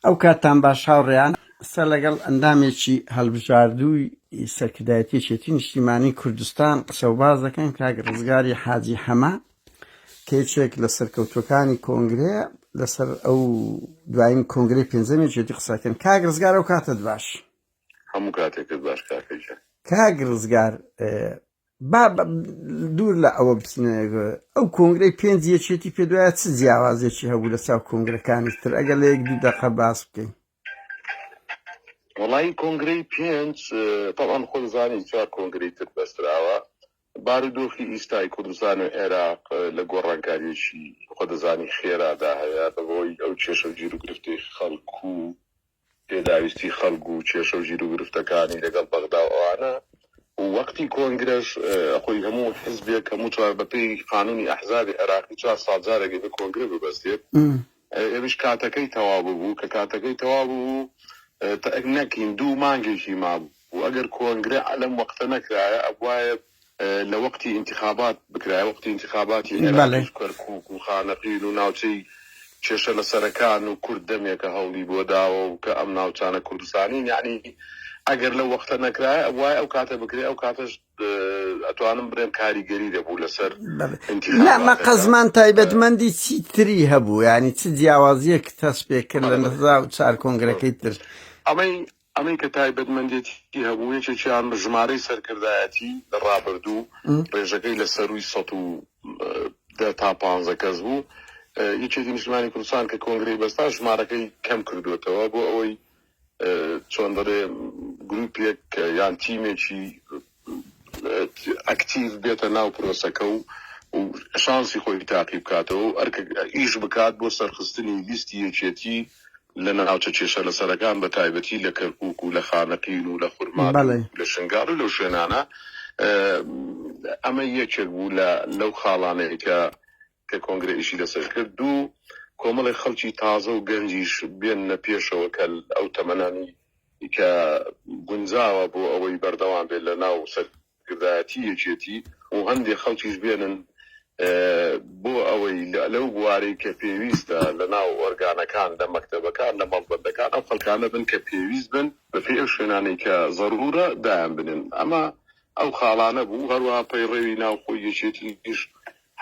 ئەو کاتتان باش هاوڕێیان. ئێستا لەگەڵ ئەندامێکی هەڵبژاردووی سەرکردایەتی یەکێتی نیشتیمانی کوردستان قسەوباس دەکەین کاک ڕزگاری حاجی حەمە کە یەکێک لە سەرکەوتوەکانی کۆنگرەیە لەسەر ئەو دوایین کۆنگری پێنجەمی یەکێتی قسەکەن کاک ڕزگار ئەو کاتت باش هەموو کاتێکت باش کاکە گیان. کاک ڕزگار با دوور لە ئەوە بچنە ئەو کۆنگرەی پێنج یەکێتی پێ دوایە چ جیاوازێکی هەبوو لە چاو کۆنگرەکانی تر ئەگەر لە یەک دوو دەقە باس بکەین وڵی کۆنگرەی پێنج تەوان خۆزانانی چوار کۆنگری تر بەستراوە بارودۆخی ئیستای کوردستان و عێراق لە گۆڕانکاریشی خۆدەزانی خێرادا هەیە بەبەوەی ئەو کێشە و گیر و گرفتی خەڵکو پێداویستی خەڵک و کێشە و گیروگرفتەکانی لەگەڵ بەغدا و ئەوانە و وەقتی کۆنگرەش خۆی هەموو حزبێک هەموو چوار بەپێی قانونی ئەحزابی عێراقی چوار ساڵ جارێک ئەبێ کۆنگرە ببەستێت ئەویش کاتەکەی تەواو ببوو کە کاتەکەی تەواو ببوو نەکین دوو مانگێکی مابوو ئەگەر کۆنگرە لەم وەقتە نەکرایە ئەبوایە لە وەقتی ئینتیخابات بکرایە وەقتی ئینتیخاباتی عێراقیش و کەرکووک و خانەقین و ناوچەی کێشە لەسەرەکان و کورد دەمێکە هەوڵی بۆ داوە و کە ئەم ناوچانە کوردستانین یەعنی ئەگەر لەو وەقتە نەکرایە وای ئەو کاتە بکرێ ئەو کاتەش ئەتوانم بڵێم کاریگەری دەبوو لەسەر ئینتیخابات لا مەقەزمان تایبەتمەندی چی تری هەبوو یانی چ جیاوازیەک تەسپێ کرد لە نزا و چار کۆنگرەکەی تر ئەمەی ئەمەی کە تایبەتمەندێتی هەبوو یەکێکیان ژمارەی سەرکردایەتی لە ڕابردوو ڕێژەکەی لە سەرووی سەد و دە تا پانزە کەس بوو یەکێتی نیشتمانی کوردستان کە کۆنگری بەستا ژمارەکەی کەم کردوێتەوە بۆ ئەوەی چۆن دەڵێ گروپێک یان تیمێکی ئەکتیڤ بێتە ناو پرۆسەکە و شانسی خۆی تاقی بکاتەوە و ئەرکە ئیش بکات بۆ سەرخستنی لیستی یەکێتی لە ناوچە کێشە لەسەرەکان بە تایبەتی لە کەرکوک و لە خانەقین و لە خورماتوو و بەڵێ. لە شنگال و لەو شوێنانە ئەمە یەکێک بوو لە لەو خاڵانەی کە کە کۆنگرە ئیشی لەسەر کرد دوو کۆمەڵێک خەڵکی تازە و گەنجیش بێننە پێشەوە کە ئەو تەمەنانی کە گونجاوە بۆ ئەوەی بەردەوام بێت لە ناو سەرکردایەتی یەکێتی و هەندێک خەڵکیش بێنن بۆ ئەوەی لەو بوارەی کە پێویستە لە ناو ئۆرگانەکان لە مەکتەبەکان لە مەڵبەندەکان ئەو خەلکانە بن کە پێویست بن بەپێ ئەو شوێنانەی کە زەرورە دایان بنن ئەمە ئەو خاڵانە بوو، هەروەها پەیڕەوی ناوخۆی یەکێتیش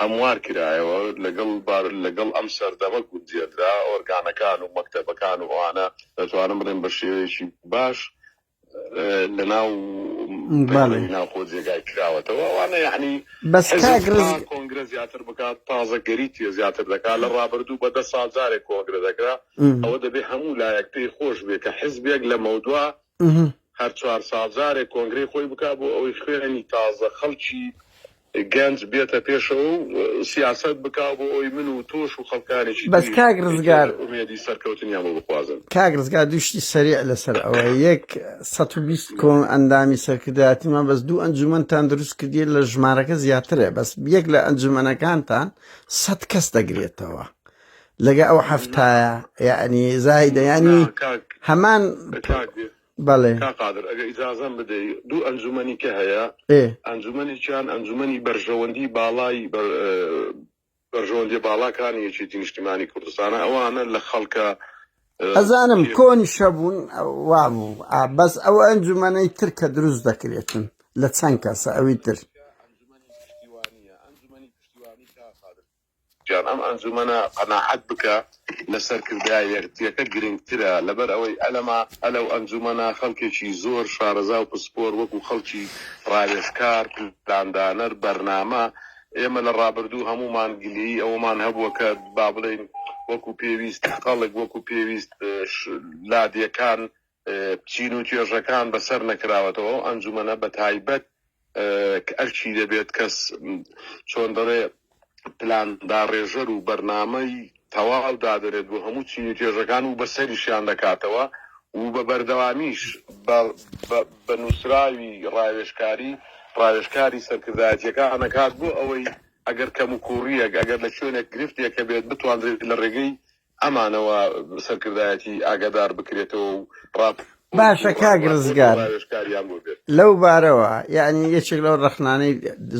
هەموار کرایەوە، لەگەڵ بار لەگەڵ ئەم سەردەمە گونجێنرا، ئۆرگانەکان و مەکتەبەکان و ئەوانە دەتوانم بڵێم بە شێوەیەکی باش لەناو پەیڕەوی ناوخۆ جێگای کراوەتەوە، ئەوانە یەعنی حیزب تا کۆنگرە زیاتر بکات تازەگەری تێ زیاتر دەکات، لە ڕابردوو بە دە ساڵ جارێک کۆنگرە دەکرا، ئەوە دەبێ هەموو لایەک پێی خۆش بێ کە حیزبێک لەمەودوا هەر چوار ساڵ جارێک کۆنگرەی خۆی بکا بۆ ئەوەی خوێنی تازە خەڵکی گەنج بێتە پێشەوە و سیاسەت بکا بۆ ئەوەی من و تۆش و خەڵکانێکی بەس تریش کاک ڕزگار ئیتر ئومێدی سەرکەوتنیان بۆ بخوازن. کاک ڕزگار دوو شتی سەریع لەسەر ئەوە یەک سەد و بیست کۆن ئەندامی سەرکردایەتیمان بەس دوو ئەنجومەنتان دروست کردیە لە ژمارەکە زیاترە بەس یەک لە ئەنجومەنەکانتان سەد کەس دەگرێتەوە لەگە ئەو حەفتایە یعنی زایدە ینی هەمان بەڵێ قادر ئەگە ئیجازەم بدەی دوو ئەنجومەنی کە هەیە ئەنجومەنیان ئەنجومەنی بەرژەوەندی باڵای بەرژەوەندی باڵاکانی یەکێتی نیشتیمانی کوردستانە ئەوانە لە خەڵکە ئەزانم کۆنی شەبوون وابوو بەس ئەو ئەنجومەنەی تر کە دروست دەکرێتن لە چەند کەسە ئەوی تر گیان ئەم ئەنجومەنە قەناعەت بکە لە سەرکردە یەکتیەکە گرنگترە لەبەر ئەوەی ئەلەما ئەلەو ئەنجومەنە خەلکێکی زۆر شارەزا و پسپۆر وەکو خەڵکی راوێژکار پلاندانەر بەرنامە ئێمە لە رابردوو هەموومان گلەیی ئەوەمان هەبووە کە بابلێین وەکو پێویست خەڵک وەکو پێویست لادێکان چین و توێژەکان بەسەر نەکراوەتەوە ئەو ئەنجومەنە بەتایبەت کە ئەرکی دەبێت کەس چۆن دەڵێ پلان داڕێژەر و بەرنامەی تەواو دادەنێت بۆ هەموو چین و توێژەکان و بەسەریشیان دەکاتەوە و بە بەردەوامیش بە نووسراوی ڕاوێشکاری ڕاوێشکاری سەرکردایەتیەکان نەکات بۆ ئەوەی ئەگەر کەم و کوڕیەک ئەگەر لە شوێنێک گرفتێکە بێت بتواندرێت لە ڕێگەی ئەمانەوە سەرکردایەتی ئاگادار بکرێتەوە و ڕاپۆرت باشە و کاک ڕاپۆرت و ڕزگار ڕاوێژکاریان بۆ بێت. لەو بارەوە یانی یەکێک لەو ڕەخنانەی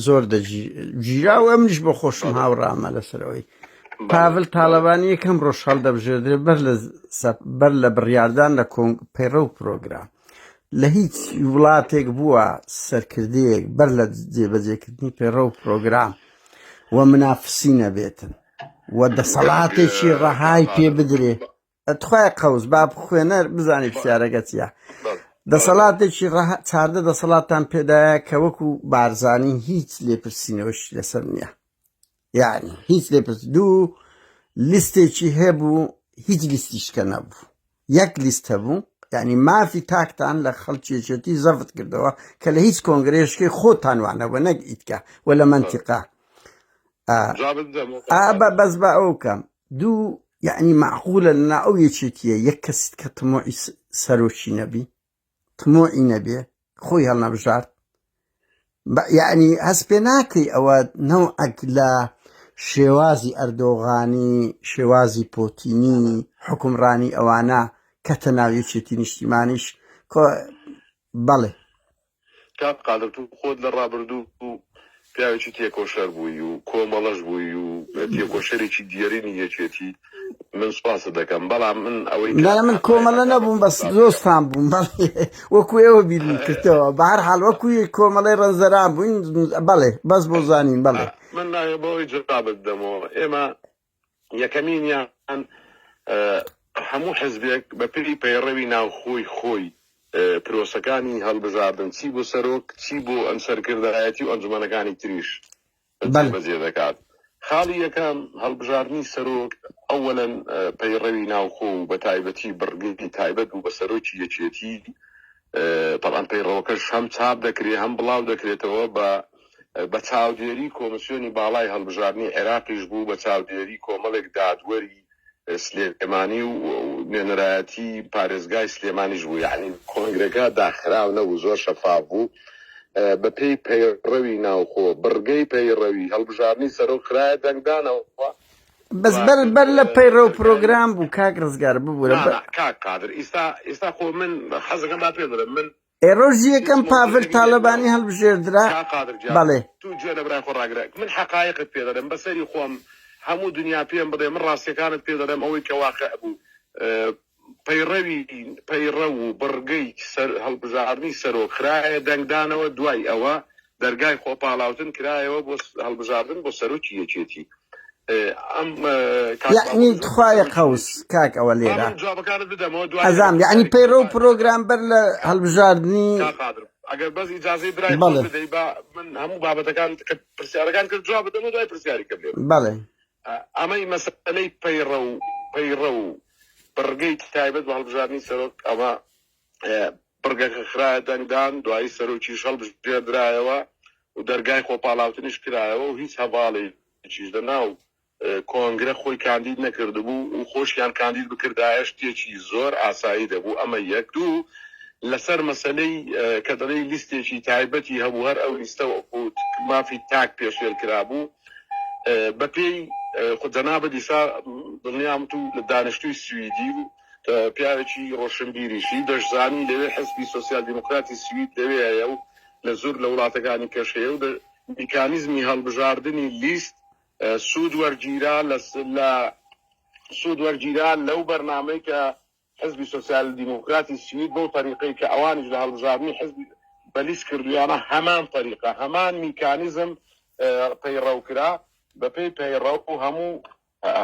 زۆر دەگی گیرا و ئەمنیش بۆ خۆشم بەڵێ هاوڕامە لەسەر ئەوەی بەڵێ پاڤل بەڵێ تاڵەبانی یەکەم ڕۆژ هەڵدەبژێردرێت بەر لە سە- بەر لە بڕیاردان لە کۆنگ پەیڕە و پرۆگرام لە هیچ وڵاتێک بووە سەرکردەیەک بەر لە جێبەجێکردنی پەیڕە و پرۆگرام و منافسی نەبێتن و دەسەڵاتێکی ڕەهای پێ بدرێ تخوای قەوز با خوێنەر بزانانی پرسیارەکە چیە دەسەڵاتێکی چاردە دەسەڵاتان پێدایە کە وەکو بارزانانی هیچ لێپرسینەوەش لەسەر نییە یعنی هیچ لێپرس دوو لیستێکی هەبوو هیچ لیستیشکە نەبوو یەک لیست هەبوو یعنی مافی تاکتان لە خەڵکی یەکێتی زەفت کردەوە کە لە هیچ کۆنگرێشکی خۆتان وانەوە نەک ئیتکە و لە منتیقا ئابە بەس بە ئەو کەم دوو یعنی معقولە لەنا ئەو یەکێتیە یەک کەسیت کە تمۆی سەرۆکی نەبی تموعی نەبێ خۆی هەڵنەبژارد یعنی هەست پێ ناکەی ئەوە نەوعەک لە شێوازی ئەردۆغانی شێوازی پۆتینی حکومڕانی ئەوانە کەتە ناویەکێتی نیشتیمانیش بەڵێ کاک قادر تو خۆت لە ڕابردو پیاوێکی تێکۆشەر بووی و کۆمەڵەش بووی و تێکۆشەرێکی دیێرینی یەکێتی من سوپاست دەکەم بەڵام من ئەوەی لا من کۆمەڵە نەبووم بەس دۆستان بووم وەکو ئێوە بیرم کردەوە بە هەر حال وەکوی کۆمەڵی ڕەنزەران بووین بەڵێ بەس بۆ زانین بەڵێ من ناێ بەوەی جەقابت دەمەوە ئێمە یەکەمینیان هەموو حزبێک بە پێی پەیڕەوی ناوخۆی خۆی پرۆسەکانی هەڵبژاردن چی بۆ سەرۆک چی بۆ ئەم سەرکردایەتی و ئەنجومەنەکانی تریش بەل. بەجێ دەکات خاڵی یەکەم هەڵبژاردنی سەرۆک ئەوەن پەیڕەوی ناوخۆ و بە تایبەتی بڕگەی تایبەت بوو بە سەرۆکی یەکێتی بەڵام پەیڕەوەکەش هەم چاپ دەکرێت هەم بڵاو دەکرێتەوە بە بە چاودێری کۆمسیۆنی باڵای هەڵبژاردنی عێراقیش بوو بە چاودێری کۆمەڵێک دادوەری سلێمانی و نوێنەرایەتی پارێزگای سلێمانیش بوو یعنی کۆنگرەکە داخراو نەبوو زۆر شەفاف بوو بەپێی پەیڕەوی ناوخۆ بڕگەی پەیڕەوی هەڵبژاردنی سەرۆک خراە دەنگدانەوە بەس بەر بەر لە پەیڕە و پرۆگرام بوو کاک ڕزگار ببوورە کاک قادر ئیستا ئیستا خۆ من حەزەکەم با پێ بڵێم من ئێڕۆژی یەکەم پاڤل تاالبانی هەڵبژێردرا بەڵێ تو گوێ لە برای خۆ ڕاگرە من حقایقت پێ دەڵێم بەسەری خۆم هەموو دنیا پێم بڵێ من ڕاستیەکانت پێ دەڵێم ئەوەی کە واقع بوو پەیڕەو و بڕگەی هەڵبژاردنی سەرۆک خرایە دەنگدانەوە، دوای ئەوە دەرگای خۆپاڵاوتن کرایەوە بۆ هەڵبژاردن بۆ سەرۆکی یەکێتی. یەعنی تخوایە قەوس کاک ئەوە لێرە ئەزام یەعنی پەیڕە و پرۆگرام بەر لە هەلبژاردنی ئەگەر بەس ئیجازەی برای بدەی با من هەموو بابەتەکان پرسیارەکان کرد جواب بدەمە دوای پرسیاری کردێ بەڵێ ئەمەی مەسەلەی پەیڕەو پەیڕەو و بڕگەی تایبەت بە هەڵبژاردنی سەرۆک ئەمە بڕگەکە خراە دەنگدان دوایی سەرۆکی شەڵ بژێدرایەوە و دەرگای خۆپاڵاوتنیش کرایەوە و هیچ هەواڵی چیش لە ناو کۆنگرە خۆی کاندید نەکردبوو و خۆشیان کاندید بکردایە شتێکی زۆر ئاسایی دەبوو ئەمە یەک دوو لەسەر مەسلەی کە دەڵی لیستێکی تایبەتی هەبوو هەر ئەو لیستە بوو مافی تاک پێشێل کرابوو بە پێی جەنابت ئیسا دڵنیام تو دانیشتوی سویدی و پیاوێکی ڕۆشنبیریشی، دەشزانی لەوێ حزبی سۆسیال دیموکراتی سوید لەوێیە و لە زور لە وڵاتەکانی کەش هەیە و لە میکانیزمی هەڵبژاردنی لیست سود وەرگیرا لە سود وەرگیرا لەو بەرنامەی کە حزبی سۆسیال دیموکراتی سوید بەو تەریقەی کە ئەوانیش لە هەڵبژاردنی حزب بەلیس کردویانە هەمان تەریقە هەمان میکانیزم پەیڕەو کرا بەپێی پەیڕەو و هەموو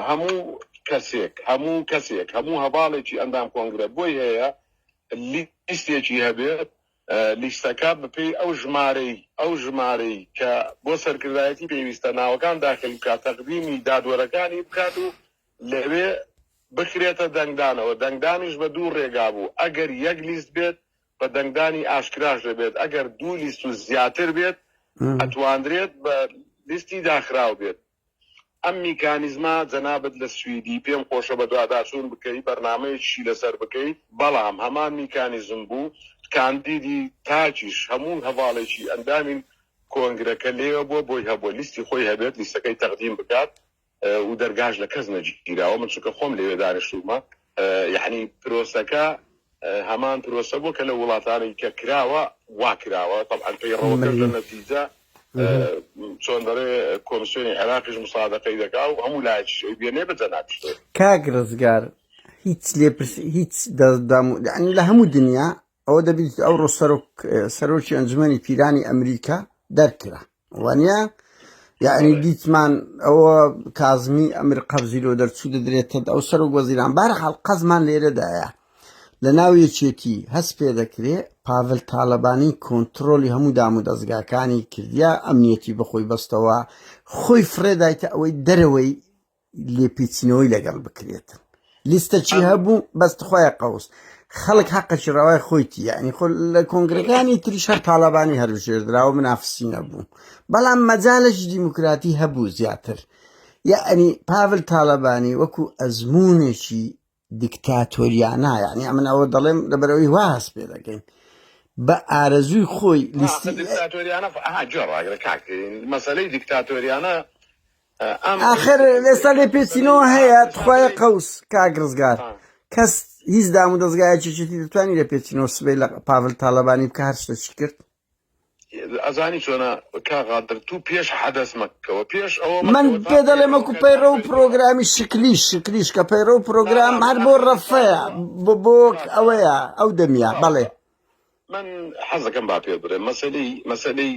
هەموو کەسێک هەموو کەسێک هەموو هەواڵێکی ئەندام کۆنگرە بۆی هەیە لیستێکی هەبێت لیستەکە بەپێی ئەو ژمارەی ئەو ژمارەی کە بۆ سەرکردایەتی پێویستە ناوەکان داخل بکات تەقدیمی دادوەرەکانی بکات و لەوێ بکرێتە دەنگدانەوە، دەنگدانیش بە دوو رێگا بوو، ئەگەر یەک لیست بێت بە دەنگدانی ئاشکراش دەبێت، ئەگەر دوو لیست و زیاتر بێت ئەتواندرێت بە لیستی داخراو بێت. ئەم میکانیزمە جەنابت لە سویدی پێم خۆشە بەدواداچوون بکەی بەرنامەیەکیشی لەسەر بکەی، بەڵام هەمان میکانیزم بوو کاندیدی تاکیش هەموو هەڤاڵێکی ئەندامی کۆنگرەکە لێوە بووە بۆی هەبووە لیستی خۆی هەبێت لیستەکەی تەقدیم بکات و دەرگاش لە کەس نەگیراوە من چونکە خۆم لەوێ دانیشتوومە یەحنی پرۆسەکە هەمان پرۆسە بووە کە لە وڵاتانی کە کراوە وا کراوە طبعا پەیڕەوەکە لە نەتیجە چۆن دەڵێ کۆمسیۆنی عێراقیش مسادەقەی دەکا و هەموو لایەکی بێنێ بە جەنابشتێ کاک ڕزگار هیچ لێپرس هیچ دەستدام لە هەموو دنیا ئەوە دەبیت ئەو ڕۆ سەرۆکی ئەنجومەنی پیرانی ئەمریکا دەرکرا وانە یعنی دیتمان ئەوە کازمی ئەمر قەبزی لۆ دەرچوو دەدرێتە ئەو سەر و گۆزیران بار حڵقەزمان لێرەدایە لە ناو یەکێتی هەست پێ دەکرێ پاڤل تاالبانی کۆنتترۆلی هەموو دام و دەستگاکانی کردیا ئەمنیەتی بەخۆی بەستەوە خۆی فرێدایتە ئەوەی دەرەوەی لێپیچنەوەی لەگەڵ بکرێتن لیستە چی هەبوو بەست خۆی قوس خەڵک حەقەشی ڕەوای خۆیتی یعنی خۆ لە کۆنگرەکانی تریش هەر تاالبانی هەروژێردرا و منافسی نەبوو بەڵام مەجالش دیموکراتی هەبوو زیاتر یعنی پاول تاالبانی وەکو ئەزمونێکی دیکتاتۆریانە یعنی ئەمن ئەوە دەڵێم لەبەرەوەی وا هەست پێ دەکەین بە ئارەزووی خۆی لیستی دیکتاتۆریانە جۆ ڕاگرە کاک مەسەلەی دیکتاتۆریانە ئاخر ئێستا لێ پێچینەوە هەیە تخوایە قەوس کاک ڕزگار کەس هیچ دام و دەستگایەکی چیتی دەتوانانی لە پێچینەوە سبەی لە پاڤل تاالبانی بکە هەر شتەچی کرد من پێ دەڵێم وەکو پەیڕەو پڕۆگرامی شکلی شکلیش کە پەیڕەو پرۆگرام هەر بۆ ڕەفەیە بۆ بۆ ئەوەیە ئەو دەمیا بەڵێ من حەزەکەم با پێ بڵێ مەسەی مەسەی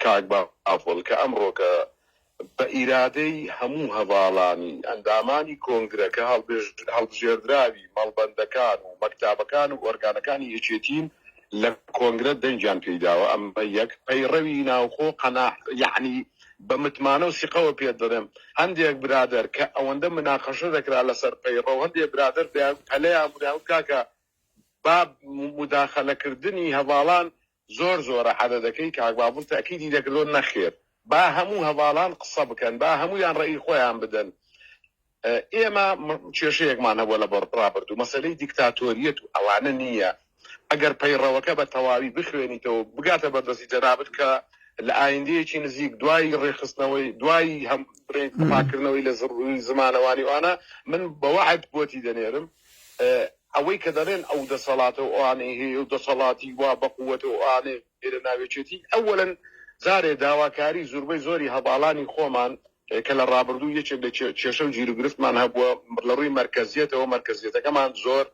کاک با ئافۆڵ کە ئەمڕۆکە بە ئیرادەی هەموو هەڤاڵانی ئەندامانی کۆنگرەکە، هەڵبژێردراوی مەڵبەندەکان و مەکتابەکان و ئۆرگانەکانی یەکێتین لە کۆنگرە دەنگیان پێیداوە، ئەمە یەک. پەیڕەوی ناوخۆ قەناح، یەعنی بە متمانە و سیقەوە پێت دەڵێم، هەندێک برادەر کە ئەوەندە مناقەشە دەکرا لەسەر پەیڕەو، هەندێک برادەر دەیانگوت، پەلەیان بوو دەیانگوت کاکە با موداخەلەکردنی هەڤاڵان زۆر زۆرە عەدەدەکەی کاک بابل تەئکیدی دەکردەوە نەخێر با هەموو هەڤاڵان قسە بکەن با هەموویان ڕەئی خۆیان بدەن ئێمە کێشەیەکمان هەبووە لە ڕابردوو مەسەلەی دیکتاتۆریەت و ئەوانە نییە ئەگەر پەیڕەوەکە بە تەواوی بخوێنیتەوە بگاتە بەردەستی جەنابت کە لە ئایندەیەکی نزیک دوای ڕێخستنەوەی دوای هەم پاکردنەوەی لە زڕوی زمانەوانیوانە من بەوەعد بۆتی دەنێرم ئەوەی کە دەڵێن ئەو دەسەڵاتە و ئەوانەی هەیە و دەسەڵاتی وا بە قووەتە و ئەوانەی لە ناوێچێتی، ئەوەلا جارێ داواکاری زوربەی زۆری هەڤاڵانی خۆمان کە لە ڕابردوو یەکێک لە کێشە و گیروگرفتمان هەبووە لە ڕووی مەرکەزیەتەوە، مەرکەزیەتەکەمان زۆر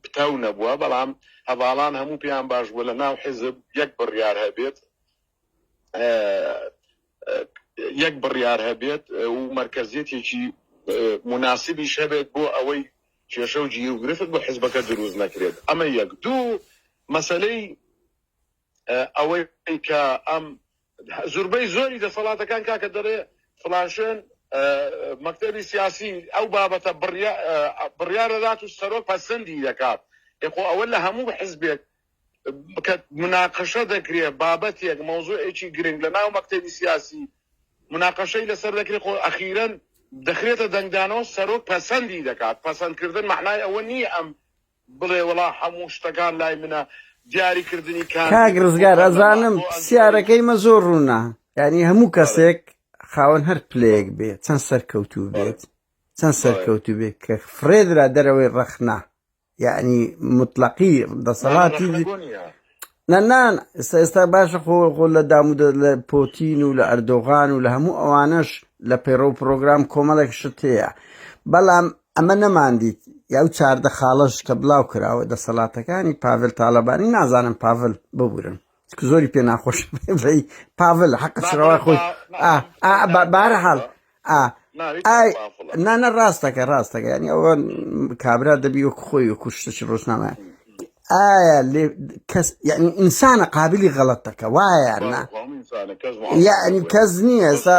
پتەو نەبووە، بەڵام هەڤاڵان هەموو پێیان باش بووە لە ناو حیزب یەک بڕیار هەبێت یەک بڕیار هەبێت و مەرکەزیەتێکی مناسبیش هەبێت بۆ ئەوەی کێشە و جی و گرفت بۆ حزبەکە دروست نەکرێت ئەمە یەک دوو مەسلەی ئەوەی کە ئەم زوربەی زۆری دەسەڵاتەکان کاکە دەڵێ فلاشێن مەکتتەبی سیاسی ئەو بابەتە بڕیارەدات و سەرۆک پەسەندی دەکات یخۆ ئەوە لە هەموو حزبێک کە مناقەشە دەکرێ بابەتێک مەوزوعێکی گرنگ لە ناو مەکتەبی سیاسی مناقەشەی لەسەر دەکرێت خۆ ئەخیرەن دەخرێتە دەنگدانەوە سەرۆک پەسەندی دەکات پەسەندکردن معنای ئەوە نییە ئەم بڵێ وڵا هەموو شتەکان لای منە دیاریکردنی کار کاک ڕزگار ئەزانم پرسیارەکەی مە زۆر ڕوونە یعنی هەموو کەسێک خاوەن هەر پلەیەک بێ چەند سەرکەوتوو بێت چەند سەرکەوتوو بێت کە فرێدرا دەرەوەی ڕەخنا یعنی مطلقی دەسەڵاتی نەنان ئستا ئێستا باشە خۆ خۆ لە دامود لە پۆتین و لە ئەردۆغان و لە هەموو ئەوانەش لە پەیڕە و پرۆگرام کۆمەڵێک شت هەیە بەڵام ئەمە نەماندیت یا و چاردە خاڵش کە بڵاو کراوە دەسەڵاتەکانی پاڤل تاالبانی نازانم پاڤل ببورن زۆری پێ ناخۆش پاڤل حەق شڕەوە خۆی بارەحاڵ نانە ڕاستەکە ڕاستەکە ینی ئەوە کابرا دەبی وەک خۆی و کوشتش ڕۆژنامە ئایا لێ کەس یعنی ئینسانە قابلی غەڵەتەکە وایە یعنی کەس نییە ئێستا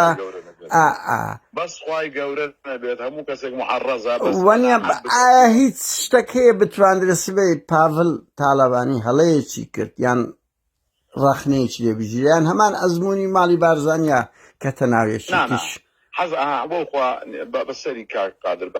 بەس خوای گەورە نەبێت هەموو کەسێک معەڕەزە بەس وەنیە قەناعەت بکە. ئایا هیچ شتەک هەیە بتواندرێت سبەی پاڤل تالەبانی هەڵەیەکی کرد یان ڕەخنەیەکی لێ بگیرێ یان هەمان ئەزموونی ماڵی بارزانیە کەتە ناو نا نا یەکێتیش حەز ئەها بۆ خوا بە بەسەری کاک قادر بە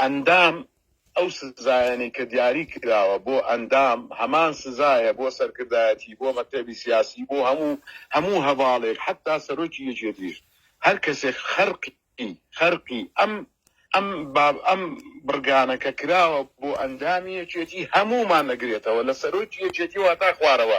ئەندام، ئەو سزایانەی کە دیاری کراوە بۆ ئەندام هەمان سزایە بۆ سەرکردایەتی، بۆ مەکتەبی سیاسی، بۆ هەموو هەموو هەڤاڵێک حەتا سەرۆکی یەکێتیش هەر کەسێک خەرقی خەرقی ئەم ئەم باب ئەم بڕگانە کە کراوە بۆ ئەندامی یەکێتی هەموومان ئەگرێتەوە لە سەرۆکی یەکێتیوە هەتا خوارەوە.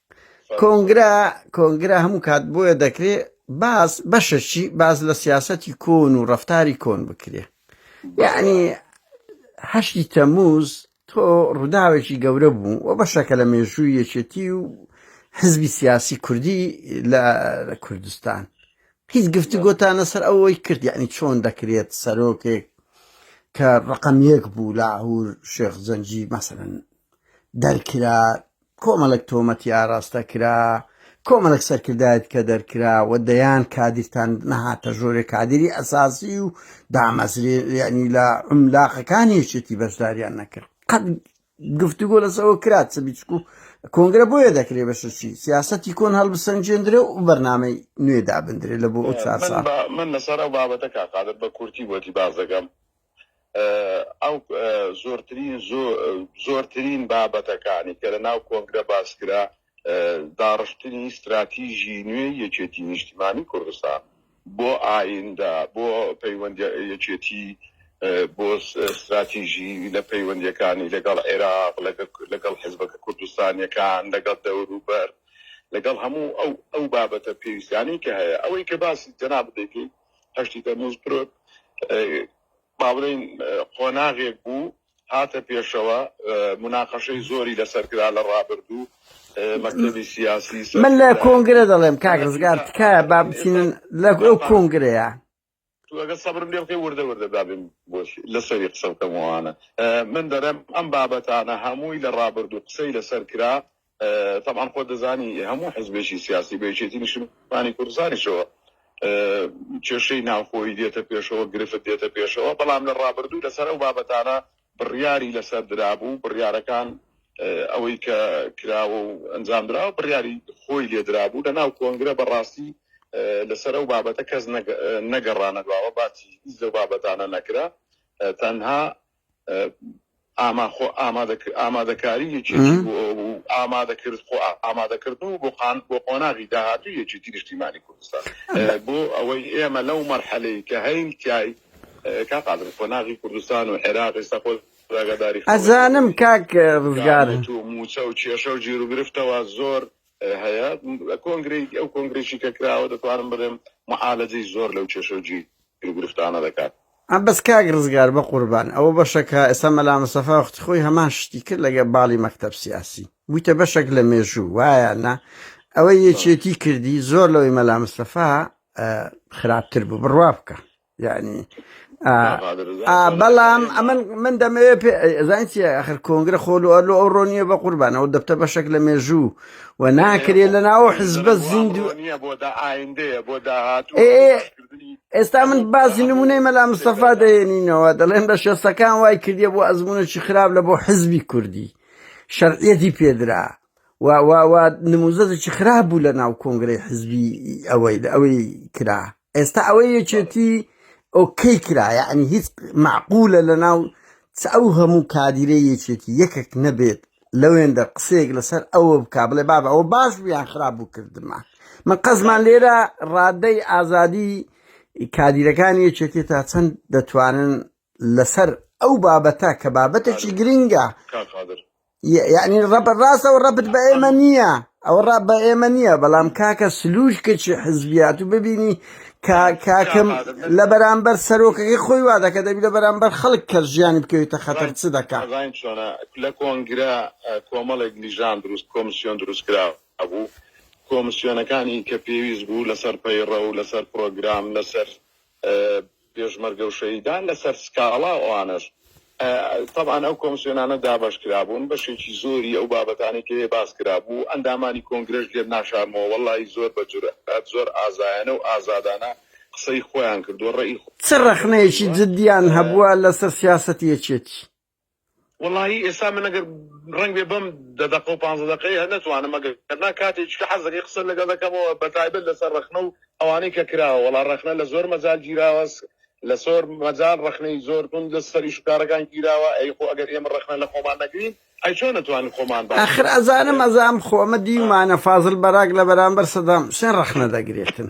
کۆنگرا کۆنگرا هەموو کات بۆیە دەکرێ باز بەشەشی باز لە سیاسەتی کۆن و ڕفتاری کۆن بکرێ یعنی هەشتی تەموز تۆ ڕووداوێکی گەورە بوو و بەشەکە لە مێژووی یەکێتی و حزبی سیاسی کوردی لە کوردستان هیچ گفتی گۆتانە سەر ئەوەی کرد یعنی چۆن دەکرێت سەرۆکێک کە ڕقم یەک بوو لاهور شێخ زەنجی مەسەن دەرکرا کۆمەڵێک تۆمەت ی ئاراستە کرا، کۆمەڵێک سەرکردایەت کە دەرکرا و دەیان کادیرتان نەهاتە ژۆرێ کادیری ئەساسی و دامەزرێ یعنی لە عملاقەکانی یەکێتی بەشداریان نەکرد قەت گفتوگۆ لەسەوە کرات چ بیچکو کۆنگرە بۆیە دەکرێ بەشەچی سیاستی کۆن هەڵبسەنجێندرێ و بەرنامەی نوێ دابندرێ لە بۆ ئەو چار ساڵ من لەسەر ئەو بابەتە کاقادر بە کورتی بۆتی باس دەکەم ئەو زۆرترین زۆرترین بابەتەکانی کە لە ناو کۆنگرە باسکرا داڕشتنی استراتیژی نوێ یەکێتی نیشتیمانی کوردستان بۆ ئایندە بۆ پەیوەندی یەکێتی بۆ استراتیژی لە پەیوەندیەکانی لەگەڵ عێراق لەگەڵ حزبەکە کوردستانیەکان لەگەڵ دەوروبەر لەگەڵ هەموو ئەو ئەو بابەتە پێویستانی کە هەیە ئەوەی کە باسی جەناب دەکەیت هەشتی تەموز پرۆت با بڵێین قۆناغێک بوو هاتە پێشەوە مناقەشەی زۆری لەسەر کرا لە ڕابردوو مەکتبی سیاسی سەر- من لە کۆنگرە دەڵێم کاک ڕزگار تکایە با بچینن لە ئەو کۆنگرەیە تو ئەگەر سەبرم لێ بکەی وردە وردە دابێن بۆش لەسەری قسە بکەمەوانە من دەرم ئەم بابەتانە هەمووی لە ڕابردوو قسەی لەسەر کرا تەبعەن خۆت دەزانی هەموو حزبێکی سیاسی بە یەکێتی نیشتمانی کوردستانیشەوە کێشەی ناوخۆی دێتە پێشەوە گرفت دێتە پێشەوە بەڵام لە ڕابردوو لەسەر ئەو بابەتانە بڕیاری لەسەر درابوو بڕیارەکان ئەوەی کە کراوە و ئەنجام درا بڕیاری خۆی لێدرابوو لە ناو کۆنگرە بەڕاستی لەسەر ئەو بابەتە کەس نەگەڕانە دواوە باتی هیچ لەو بابەتانە نەکرا تەنها ئاما خۆ ئامادەکاری یەکێتی بۆ ئەو بوو ئامادەکرد خۆ ئامادەکردن و بۆ قان بۆ قۆناغی داهاتوو یەکێتی نیشتیمانی کوردستان بۆ ئەوەی ئێمە لەو مەرحەلەی کە هەین تای کا قادر قۆناغی کوردستان و عێراق ئێستا خۆ ڕاگەداری ئەزانم کاک ڕزگار و موچە و کێشە و جێرو گرفتەوە زۆر هەیە کۆنگری ئەو کۆنگرێکی کە کراوە دەتوانم بڵێم معالەجەی زۆر لەو کێشە و جی ئەو گرفتانە دەکات. ئەم بەس کاک ڕزگار بەقوربان ئەوە بەشەکە ئێستا مەلا مستەفا وەختی خۆی هەمان شتی کرد لەگە باڵی مەکتەب سیاسی بویتە بەشەک لە مێژوو وایە نا ئەوە یەکێتی کردی زۆر لەوەی مەلا مستەفا خراپتر بوو بڕوا بکە یعنی بەڵام ئەمن من دەمەوێت پێزانسی ئەخر کۆنگرە خۆل و ئەلو ئەو ڕۆنیە بە قوربانەوە دەبتە بەشێک لە مێژوو و ناکرێت لە ناوە حزبە زیندوو بۆ داهات ئێستا من باسی نمونەی مەلا مستەفا دەێنینەوە دەڵێن بە شەستەکان وای کردیە بۆ ئەزمونێکی خراپ لە بۆ حزبی کوردی شەرعەتی پێدرا نموزەێکی خراپ بوو لە ناو کۆنگرەی حزبی ئەوەی لە ئەوەی کرا ئێستا ئەوەی یەکێتی ئۆکەی کرا یعنی هیچ معقولە لە ناو ئەو هەموو کادیرە یەکێتی یەکێک نەبێت لەوێندە قسەیەک لەسەر ئەوە بکە بڵێ بابە ئەوە باش بوو یان خراپ بوو کردمان من قەزمان لێرە ڕادەی ئازادی کادیرەکانی یەکێتی تا چەند دەتوانن لەسەر ئەو بابەتە کە بابەتێکی گرنگە یعنی ڕەبەر ڕاستەوە ڕەبت بە ئێمە نییە ئەوە ڕا بە ئێمە نییە بەڵام کاکە سلوش کەچی حزبیات و ببینی کاکم لە بەرامبەر سەرۆکەکەی خۆی وا دەکە دەبی لە بەرامبەر خەڵک کە ژیانی بکەویتە خەتەر چ دەکات زین چۆنە لە کۆنگرە کۆمەڵێک لیژان دروست کۆمسیۆن دروست کرا بوو کۆمسیۆنەکانی کە پێویست بوو لەسەر پەیڕە و لەسەر پرۆگرام لەسەر پێشمەرگە و شەهیدان لەسەر سکاڵا و ئەوانەش تەبعەن ئەو کۆمسیۆنانە دابەش کرابوون بەشێکی زۆری ئەو بابەتانەی کە هەیە باس کرابوو ئەندامانی کۆنگرەش لێت ناشارمەوە وەڵاهی زۆر بە جورئەت زۆر ئازایانە و ئازادانە قسەی خۆیان کردووە ڕێی چ ڕەخنەیەکی جدیان هەبووە لەسەر سیاسەتی یەکێتی؟ وەڵاهی ئێستا من ئەگەر ڕەنگ بێ بەم دە دەقە و پانزە دەقەیە هەر نەتوانم ئەگەر نا کاتێکی کە حەز دەکەی قسەت لەگەڵ دەکەمەوە بە تایبەت لەسەر ڕەخنە و ئەوانەی کە کراوە وەڵا ڕەخنە لە زۆر مەجال گیراوە لە زۆر مەجال ڕەخنەی زۆر توند لەسەر ئیش و کارەکان گیراوە ئەی خۆ ئەگەر ئێمە ڕەخنە لە خۆمان نەگرین ئەی چۆن نەتوانین خۆمان باش ئاخر ئەزانم ئەزانم خۆ ئەمە دیومانە فازڵ بەراک لە بەرامبەر سەدام حوسێن ڕەخنە دەگرێتن.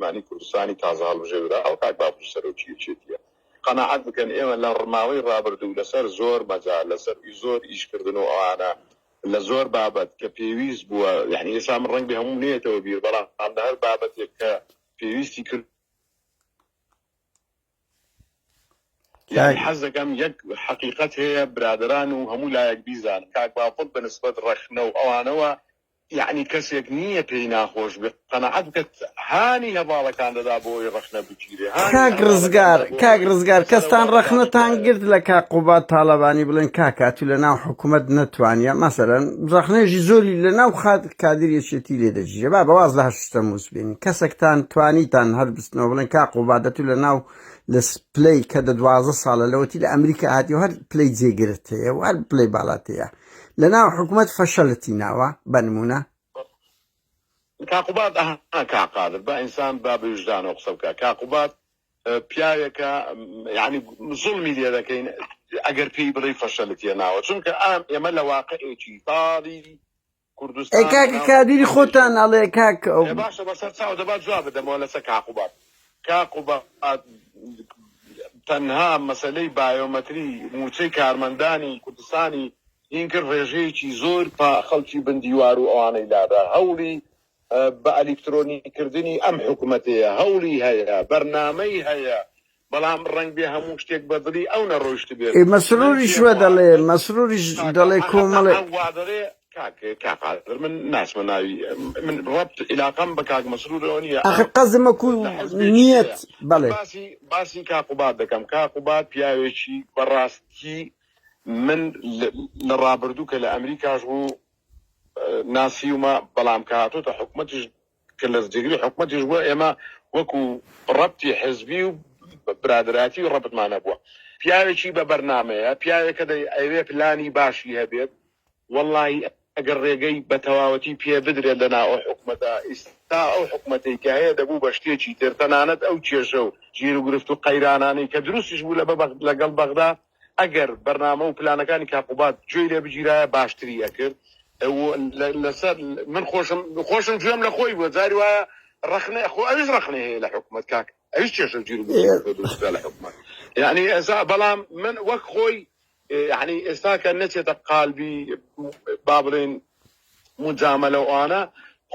مانی کوردستانی تازە هەڵبژێردراو کاک باپیر سەرۆکی یەکێتیە. قەناعەت بکەن ئێمە لە ڕماوەی ڕابردوو لە سەر زۆر مەجال لە سەر زۆر ئیش کردن و ئەوانە لە زۆر بابەت کە پێویست بووە یانی ئێستا من ڕەنگبێ هەمووم نەیەتەوە بیر بەڵام لە هەر بابەتێک کە پێویستی کرد یانی حەز دەکەم یەک حەقیقەت هەیە برادران و هەموو لایەک بیزان کاک باپڵ بە نسبەت ڕەخنە و ئەوانەوە یەعنی کەسێک نییە پێی ناخۆش بێت قەناعەت بکەت هانی هەڤاڵەکان دەدا بۆ ئەوەی ڕەخنە بگیرێ هانی کاک هەڤاڵەکان ڕزگار دەدا بۆ کاک ئەوەی ڕزگار سەرە کەستان وەرەکان ڕەخنە تان بکات گرت لە کاک قوباد تاڵەبانی بڵێن کاکا تو لە ناو حکومەت نەتوانیە مەسەلەن ڕەخنەیەژی زۆری لە ناو خات کادر یەکێتی لێ دەگیرێ با بە واز لە هەشت تەموز بێنین کەسەکتان توانیتان هەر بستنەوە بڵێن کاک قوبادە تو لە ناو لە س- پلەی کە دە دوازدە ساڵە لەوەتی لە ئەمریکا هاتی و هەر پلەی جێگرت هەیە و هەر پلەی بالات هەیە لە ناو حکومەت فەشەلتی ناوە بەنمونە کاقوباد کاقادر بە ئینسان با بویژدانەوە قسە بکە کاقوبات پیاوێکە یعنی زڵمی لێ دەکەین ئەگەر پێی بڵی فەشەلتیە ناوە چونکە ئام ئێمە لە واقعێکی تاڵی کوردستان کادیری خۆتان ئەڵێ کاک باشە بەسەر چاو دەبات جواب بدەمەوە لەسەر کاقوبات کاک قوباد تەنها مەسەلەی بایۆمەتری مووچەی کارمەندانی کوردستانی هین کرد ڕێژەیەکی زۆر پا خەڵکی بن دیوار و ئەوانەی لادا هەوڵی بە ئەلیکترۆنی کردنی ئەم حکومەتەیە هەوڵی هەیە بەرنامەی هەیە بەڵام ڕەنگبێ هەموو شتێک بە دڵی ئەو نەڕۆیشتبێت. ئێ مەسروریش وە دەڵێ مەسروریش دەڵێ کۆمەڵێ. وا دەڵێ کاک کاک قادر من ناسمە ناوی من ربط علاقەم بە کاک مسرور ئەوە نییە ئاخر قەزم و لە حزبێکی نیت ترەیە من بەڵێ باسی باسی کاک قوباد دەکەم کاک قوباد پیاوێکی بەڕاستی من لە لە ڕابردوو کە لە ئەمریکاش بوو ناسیومە بەڵام کە هاتۆتە حکومەتیش کە لە جێگری حکومەتیش بووە، ئێمە وەکو ڕەبتی حزبی و برادەراتی ڕەبتمان هەبووە. پیاوێکی بە بەرنامەیە، پیاوێکە دەیەوێت پلانی باشی هەبێت، وەڵاهی ئەگەر ڕێگەی بە تەواوەتی پێ بدرێت لە ناو ئەو حکومەتە، ئیستا ئەو حکومەتەی کە هەیە دەبوو بە شتێکی تر، تەنانەت ئەو کێشە و گیروگرفت و قەیرانانەی کە دروستیش بوو لەگەڵ بەغدا، ئەگەر بەرنامە و پلانەکانی کاک قوباد گوێی لێ بگیرایە باشتری ئەکرد و لەسەر من خۆشم خۆشم گوێم لە خۆی بووە جاری وایە ڕەخنە خۆ ئەویش ڕەخنە هەیە لە حکومەت کاک ئەویش کێشە و جیر لە حکومەت یعنی ئێسا بەڵام من وەک خۆی یعنی ئێستا کە نەچێتە قالبی با بڵێن مجاملە ئەوانە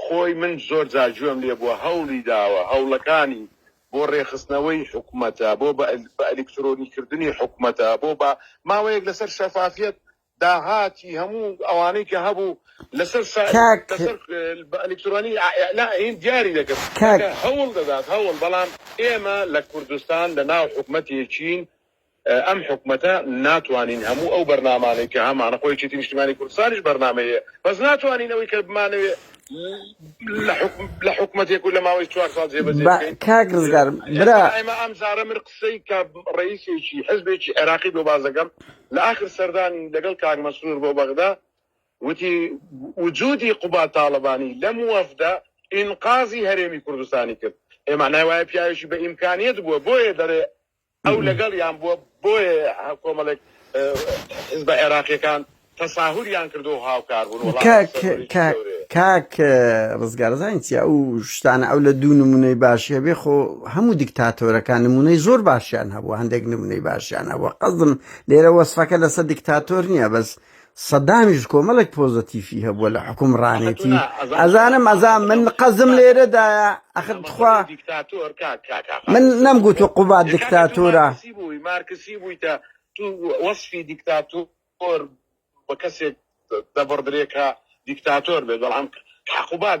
خۆی من زۆر جاجوێم لێ بووە هەوڵی داوە هەوڵەکانی بۆ ڕێکخستنەوەی حکومەتە، بۆ بە ئەلیکترۆنیکردنی حکومەتە، بۆ بە ماوەیەک لەسەر شەفافیەت، داهاتی هەموو ئەوانەی کە هەبوو لەسەر شا کاک لەسەر بە ئەلیکترۆنی ئیلا هین دیاری دەکرد. کاک کاکە هەوڵ دەدات هەوڵ بەڵام ئێمە لە کوردستان لە ناو حکومەتێکین ئەم حکومەتە ناتوانین هەموو ئەو بەرنامانەی کە هەمانە خۆ یەکێتی نیشتیمانی کوردستانیش بەرنامەی هەیە بەس ناتوانین ئەوەی کە بمانەوێ لە حکوم لە حکومەتێک و لە ماوەی چوار ساڵ جێبەجێ با بکەین کاک ڕزگار برا ئێستا ئێمە ئەم جارە من قسەی کە ڕئیسێکی حزبێکی عێراقی بۆ باس دەکەم لە ئاخر سەردانی لەگەڵ کاک مەسرور بۆ بەغدا وتی وجودی قوباد تاڵەبانی لەم وەفدە ئینقازی هەرێمی کوردستانی کرد ئێ مانای وایە پیاوێکی بە ئیمکانیەت بووە بۆیە دەرێ ئەو لەگەڵیان بووە، بۆیە کۆمەڵێک حزبە عێراقیەکان تەساهوریان کردو هاوکار بوون وەڵا کاک ئەمە سەرەڕۆیی کاک گەورەیە. کاک ڕزگار زانین چیە ئەو شتانە ئەو لە دوو نمونەی باشی هەبێ خۆ هەموو دیکتاتۆرەکان نمونەی زۆر باشیان هەبوو هەندێک نمونەی باشیان هەبوو قەزم لێرە وەسفەکە لەسە دیکتاتۆر نییە بەس سەدامیش کۆمەڵێک پۆزەتیفی هەبووە لە حوکمڕانێتی ئەزانم ئەزا من قەزم لێرەدایە ئەخر تخوا من نەم گوت و قوبات دیکتاتۆرە مارکسی بوویتە تو وەصفی دیکتاتۆر بە کەسێک دەبڕدرێکە دیکتاتۆر بێت بەڵام حقوبات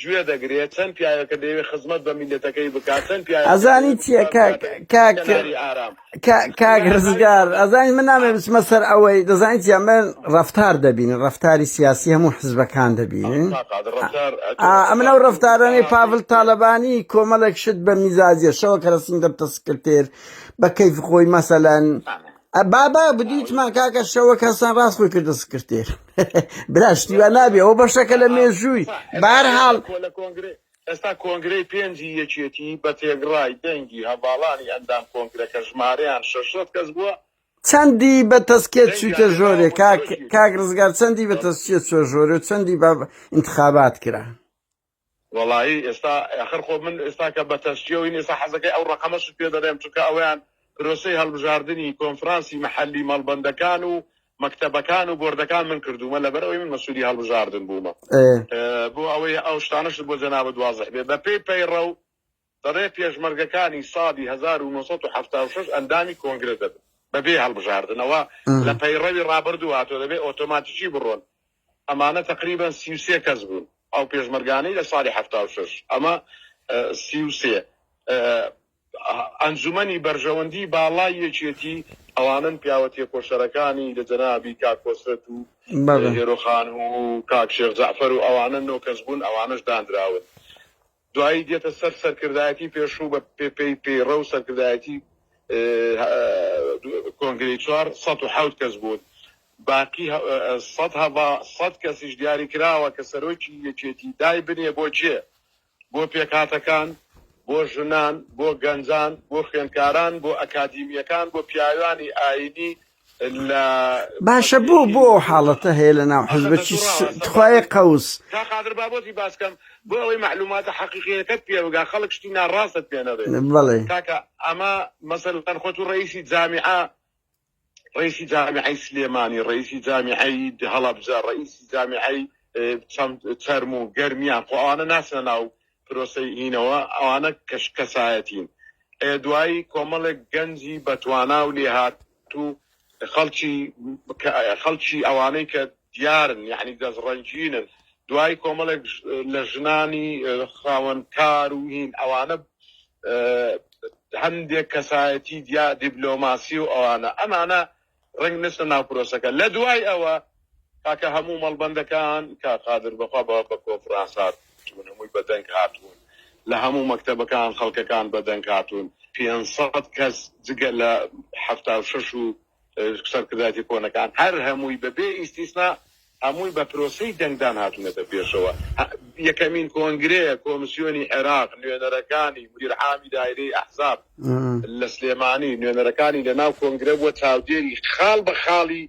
گوێ دەگرێ چەن پیاوێکە دەیەوێ خزمەت بە میلەتەکەی بکا چەن پیاوێکە دەیەوێ کوردستان بکاتە کەناری ئارام کاک رزگار ئەزانی من نامەوێ بچمە سەر ئەوەی دەزانی چیە من رەفتار دەبینم رەفتاری سیاسی هەموو حزبەکان دەبینن ئەمن ئەو رەفتارانەی پاڤل تالەبانی کۆمەڵێک شت بە میزاجیە شەوە کەرەسین دەبتە سکرتێر بە کەیف خۆی مەسەلەن بابا بدیتمان کاکە شەوە کەسان ڕاست خۆی کردە سکرتێر برا شتیوان نابێ ئەو بەشەکە لە مێژووی بار حاڵ لە کۆنگرێ ئێستا کۆنگرەی پێنجی یەکێتی بە تێگڕای دەنگی هەڤاڵانی ئەندام کۆنگرەکە ژمارەیان 600 کەس بووە چەندی بە تەسکێت چوویتە ژۆرێ کاک ڕزگار چەندی بە تەسکێت چوە ژۆرە و چەندی بە انتخابات کرا وەڵایی ئێستا ئەخر خۆ من ئێستا کە بەتەشجیعوین ئێستا حەزەکەی ئەو ڕەقەمەشت پێ دەرێم چونکە ئەویان پرۆسەی هەڵبژاردنی کۆنفرانسی مەحەلی مەڵبەندەکان و مەکتەبەکان و بۆردەکان من کردوومە لەبەر ئەوەی من مەسولی هەڵبژاردن بوومە ئێ. بۆ ئەوەی ئەو شتانەشت بۆ جەنابت وازح بێ بەپێی پەیڕەو بەڕێ پێشمەرگەکانی ساڵی هەزار و نۆ سەد و حەفتا و شەش ئەندامی کۆنگرە دەبن بەبێ هەڵبژاردنەوە لە پەیڕەوی ڕابردوو هاتووە دەبێ ئۆتۆماتیکی بڕۆن ئەمانە تەقریبەن سی و سێ کەس بوون ئەو پێشمەرگانەی لە ساڵی حەفتا و شەش ئەمە سی و سێ ئەنجومەنی بەرژەوەندی باڵای یەکێتی ئەوانن پیاوە تێکۆشەرەکانی لە جەنابی کاک کۆسرەت و هێرۆخان و کاک شێخ جەعفەر و ئەوانە نۆ کەس بوون ئەوانەش دانراون دوایی دێتە سەر سەرکردایەتی پێشوو بە پێی پەیڕە و سەرکردایەتی کۆنگرەی چوار سەد و حەوت کەس بوون باقی سەد هەڤا سەد کەسیش دیاری کراوە کە سەرۆکی یەکێتی دای بنێ بۆ کێ بۆ پێکهاتەکان بۆ ژنان بۆ گەنجان بۆ خوێندکاران بۆ ئەکادیمییەکان بۆ پیاوانی ئاینی باشە بۆ بۆ ئەو حاڵەتە هەیە لە ناو حزبەکی تخوای قوس تا قادر بابەتی باسکەم بۆ ئەوەی معلوماتە حەقیقیەکەت پێوەگا خەڵک شتی ناڕاستت پێێنەێ بڵێ تاکە ئەمە مەسەر تەن خۆت و ڕئیسی جامیعە ڕئیسی جامیعی سلێمانی ڕئیسی جامیعی هەڵەبجە ڕئیسی جامیعی چەرم و گەرمیان خۆوانە ناسە ناو پرۆسەی هینەوە ئەوانە کەش کەسایەتین ئێ دوایی کۆمەڵێک گەنجی بەتوانا و لێهات و خەڵکی خەڵکی ئەوانەی کە دیارن یعنی دەست ڕەنجینن دوایی کۆمەڵێک لە ژنانی خاوەن کار و هین ئەوانە هەندێک کەسایەتی دیا دیبلۆماسی و ئەوانە ئەمانە ڕەنگ نەچنە ناو پرۆسەکە لە دوای ئەوە کاکە هەموو مەڵبەندەکان کا قادر بەخوا بە بە کۆنفرانس هاتوون هەمووی بە دەنگ هاتوون لە هەموو مەکتەبەکان خەڵکەکان بە دەنگ هاتوون 500 کەس جگە لە حەفتا و شەش و اه، سەرکردایەتی کۆنەکان هەر هەمووی بەبێ ئیستیسنا هەمووی بە پرۆسەی دەنگدان هاتوونەتە پێشەوە. یەکەمین کۆنگرەیە کۆمسیۆنی عێراق نوێنەرەکانی، مدیر عامی دایرەی ئەحزاب لە سلێمانی، نوێنەرەکانی لە ناو کۆنگرە بووە، چاودێری خاڵ بە خاڵی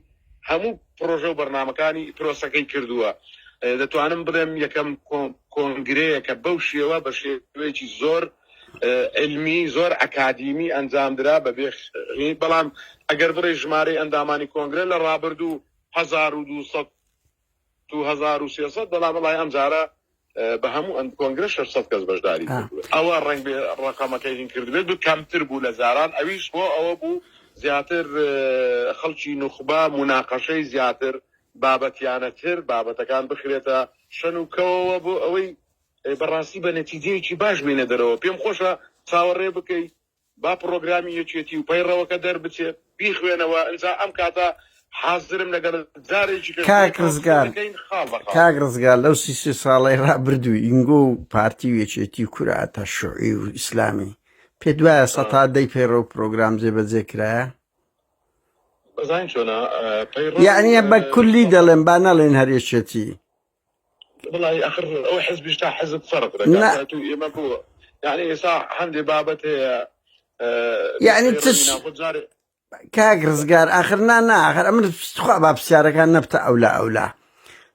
هەموو پرۆژە و بەرنامەکانی پرۆسەکەی کردووە. دەتوانم بڵێم یەکەم کۆنگرەیە کە بەو شێوە بە شێوەیەکی زۆر عیلمی، زۆر ئەکادیمی ئەنجامدرا بەبێ، بەڵام ئەگەر بڵێی ژمارەی ئەندامانی کۆنگرە لە ڕابردوو هەزار و دوو سەد و هەزار و سێ سەد بەڵام وەڵای ئەمجارە بە هەموو ئەم کۆنگرە شەش سەد کەس بەشداری آه. کردووە ئەوە ڕەنگ بێ ڕەقەمەکەی هین کردبێت بە کەمتر بوو لە جاران ئەویش بۆ ئەوە بوو زیاتر اه، خەڵکی نوخبە مناقەشەی زیاتر بابەتیانەتر بابەتەکان بخرێتە شەن و کەوەوە بۆ ئەوەی اه، بەڕاستی بە نەتیجەیەکی باش بینە دەرەوە پێم خۆشە چاوەڕێ بکەیت با پڕۆگرامی یەکێتی و پەیڕەوەکە دەربچێت بیخوێنەوە ئنجا ئەم کاتە حازرم لەگەڵت جارێکی کە کاک ڕزگار دەکەین خاڵ بە خاڵ. کاک ڕزگار لەو سی سێ ساڵەی ڕابردوو ئینگۆ و پارتی و یەکێتی کورە ئەتا شوعی و ئیسلامی پێت وایە سەتا دەی پەیڕە و پرۆگرام جێبەجێ کرایە بەزانین چۆنە پەیڕەو یعنیە بە کولی دەڵێن با نەڵێن هەر یەکێتی بڵی ئەخر ئەو حزبیش تا حزب فەرق دەکات نە تاتو ئێمە بۆ یعنی ئێستا هەندێ بابەت هەیە یعنی نوسخەی ڕەوی تش ناخۆ جارێ کاک ڕزگار ئاخر نا نا ئاخر ئەمن خوا با پرسیارەکان نەبتە ئەولا ئەولا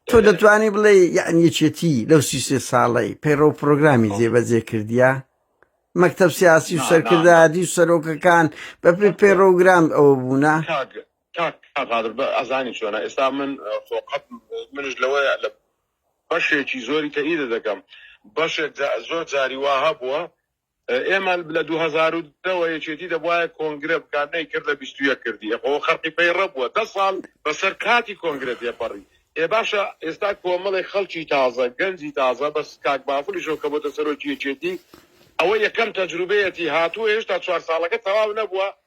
تۆ ئێ دەتوانی بڵێ یان یەکێتی لەو سی سێ ساڵەی پەیڕە و پرۆگرامی ئەو جێبەجێ کردیە مەکتب سیاسی و نا نا نا سەرکردایەتی و سەرۆکەکان بەپێ نەکردووە پێڕۆگرام ئەوە بوونە کاک کاک قادر بە ئەزانی چۆنە ئێستا من خۆ قەت منش لەوەیە لە بەشێکی زۆری تەئیدە دەکەم بەشێک جا- زۆر جاری وا هەبووە ئە، ئێمە لە 2010ەوە یەکێتی دەبواە کۆنگرە بکات نەیکرد لە 21 کردی ئەخۆ خەرقی پەیڕە بووە دە ساڵ بەسەر کاتی کۆنگرە تێپەڕی ئێ باشە ئێستا کۆمەڵی خەڵکی تازە گەنجی تازە بەس کاک بافلیشەوە کە بۆتە سەرۆکی یەکێتی ئەوە یەکەم تەجروبەیەتی هاتووە هێشتا چوار ساڵەکە تەواو نەبووە